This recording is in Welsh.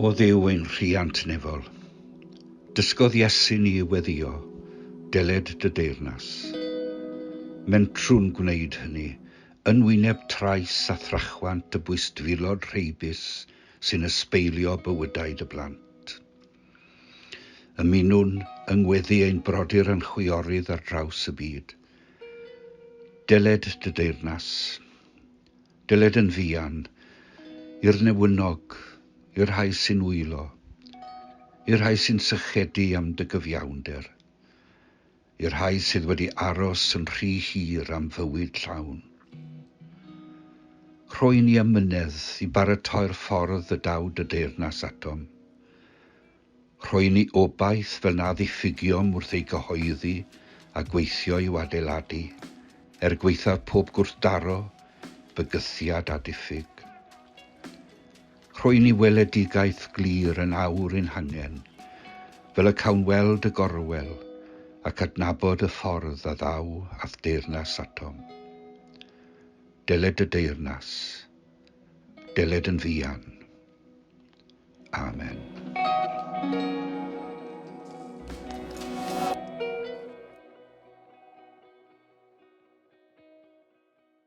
O Dduw ein rhiant nefol, dysgodd Iesu ni i weddïo, deled dy deyrnas. Mentrwn gwneud hynny, yn wyneb trais a thrachwant y bwystfilod rheibus sy'n ysbeilio bywydau dy blant. Ymunwn yng ngweddi ein brodyr a'n chwiorydd ar draws y byd. Dyled dy deyrnas. Dyled yn fuan, i'r newynog, i'r rhai sy'n wylo, i'r rhai sy'n sychedu am dy gyfiawnder. i'r rhai sydd wedi aros yn rhy hir am fywyd llawn. Rhoi ni amynedd i baratoi'r ffordd y daw dy deyrnas atom. Rhoi ni obaith fel na ddiffugiom wrth ei gyhoeddi a gweithio i'w adeiladu, er gwaethaf pob gwrthdaro, bygythiad a diffyg. Rhoi ni weledigaeth glir yn awr ein hangen, fel y cawn weld y gorwel, ac adnabod y ffordd a ddaw a'th deyrnas atom. Deled dy deyrnas. Deled yn fuan. Amen.